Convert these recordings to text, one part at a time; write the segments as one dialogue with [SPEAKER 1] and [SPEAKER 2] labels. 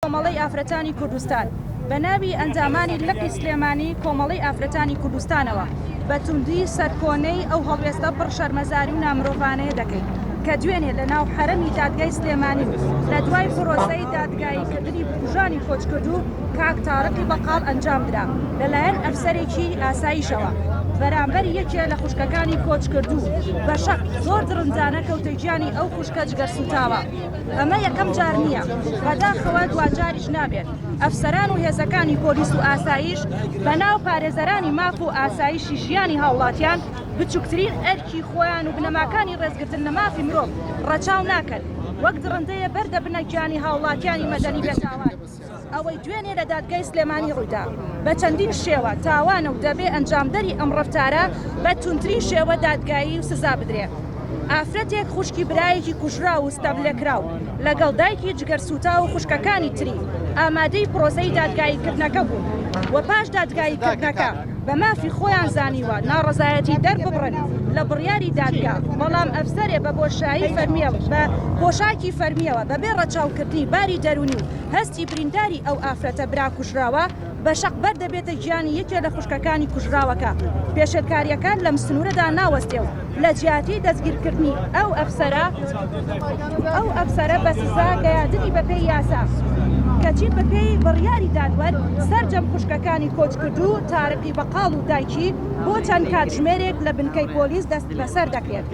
[SPEAKER 1] کۆمەڵەی ئافرەتانی کوردستان بە ناوی ئەندامانی لقی سلێمانی کۆمەڵەی ئافرەتانی کوردستانەوە بە توندی سەرکۆنەی ئەو هەڵوێستە پڕ شەرمەزاری و نامرۆڤانەیە دەکەین کە دوێنێ لە ناو حەرەمی دادگای سلێمانی و لە دوای پرۆسەی دادگایی کردنی بکوژانی کۆچکردوو کاک تارقی بەقاڵ ئەنجام درا لە لایەن ئەفسەرێکی ئاسایشەوە بەرامبەر یەکێ لە خوشکەکانی کۆچکردوو بە شەق زۆر دڕندانە کەوتە گیانی ئەو خوشکە جگەرسووتاوە. ئەمە یەکەم جار نییە، بەداخەوە دواجاریش نابێت، ئەفسەران و هێزەکانی پۆلیس و ئاسایش بەناو پارێزەرانی ماف و ئاسایشی ژیانی هاوڵاتیان بچوکترین ئەرکی خۆیان و بنەماکانی ڕێزگرتن لە مافی مرۆڤ ڕەچاو ناکەن، وەک دڕندەیە بەردەبنە گیانی هاوڵاتیانی مەدەنی بێتاوان. ئەوەی دوێنێ لە دادگای سلێمانی ڕوویدا بە چەندین شێوە تاوانە و دەبێ ئەنجامدەری ئەم ڕەفتارە بە توندترین شێوە دادگایی و سزا بدرێ. ئافرەتێک خوشکی برایەکی کوژراو و ستەملێکراو لەگەڵ دایکی جگەرسووتاو و خوشکەکانی تری ئامادەی پرۆسەی دادگاییکردنەکە بوون و پاش دادگاییکردنەکە، بە مافی خۆیان زانیوە ناڕەزایەتی دەرببڕن لە بڕیاری دادگا، بەڵام ئەفسەرێ بە بۆشایی فەرمییەوە بە پۆشاکی فەرمییەوە بەبێ ڕەچاوکردنی باری دەروونی و هەستی برینداری ئەو ئافرەتە برا کوژراوە بە شەق بەر دەبێتە گیانی یەکێ لە خوشکەکانی کوژراوەکە، پێشێلکارییەکان لەم سنوورەدا ناوەستێ و. لە جیاتی دەستگیرکردنی ئەو ئەفسەرە، ئەو ئەفسەرە بە سزا گەیاندنی بە پێی یاسا، کەچی بە پێی بڕیاری دادوەر سەرجەم خوشکەکانی کۆچکردوو تارقی بەقاڵ و دایکی بۆ چەند کاتژمێرێک لە بنکەی پۆلیس دەستبەسەر دەکرێت.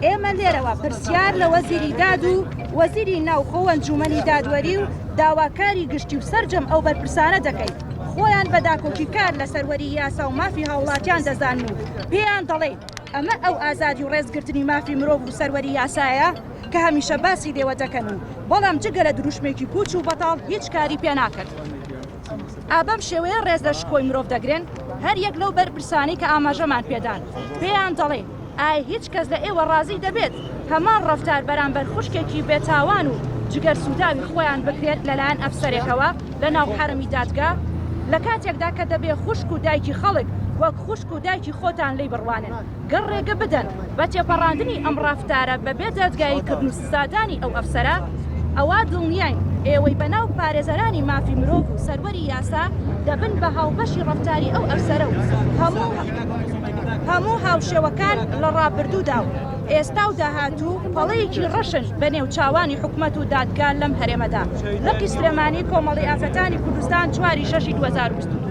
[SPEAKER 1] ئێمە لێرەوە پرسیار لە وەزیری داد و وەزیری ناوخۆ و ئەنجوومەنی دادوەری و داواکاری گشتی و سەرجەم ئەو بەرپرسانە دەکەین، خۆیان بە داکۆکیکار لە سەروەری یاسا و مافی هاوڵاتیان دەزانن و پێیان دەڵێین ئەمە ئەو ئازادی و ڕێزگرتنی مافی مرۆڤ و سەروەری یاسایە کە هەمیشە باسی لێوە دەکەن و بەڵام جگە لە دروشمێکی پوچ و بەتاڵ هیچ کاری پێ ناکەن. ئابەم شێوەیە ڕێز لە شکۆی مرۆڤ دەگرن هەر یەک لەو بەرپرسانەی کە ئاماژەمان پێدان پێیان دەڵێین ئایا هیچ کەس لە ئێوە ڕازی دەبێت هەمان ڕەفتار بەرامبەر خوشکێکی بێتاوان و جگەرسووتاوی خۆیان بکرێت لەلایەن ئەفسەرێکەوە لە ناو حەرەمی دادگا، لە کاتێکدا کە دەبێ خوشک و دایکی خەڵک وەک خوشک و دایکی خۆتان لێی بڕوانن گەر ڕێگە بدەن بە تێپەڕاندنی ئەم ڕەفتارە بەبێ دادگاییکردن و سادانی ئەو ئەفسەرە، ئەوا دڵنیاین ئێوەی بەناو پارێزەرانی مافی مرۆڤ و سەروەری یاسا دەبن بە هاوبەشی ڕەفتاری ئەو ئەفسەرە و هەموو هاوشێوەکان لە ڕابردوودا و ئێستا و داهاتوو پەڵەیەکی ڕەشن بەنێو چاوانی حکومەت و دادگا لەم هەرێمەدا لقی سلێمانی کۆمەڵی ئافرەتانی کوردستان چواری شەشی دوو هەزار و بیست و دوو.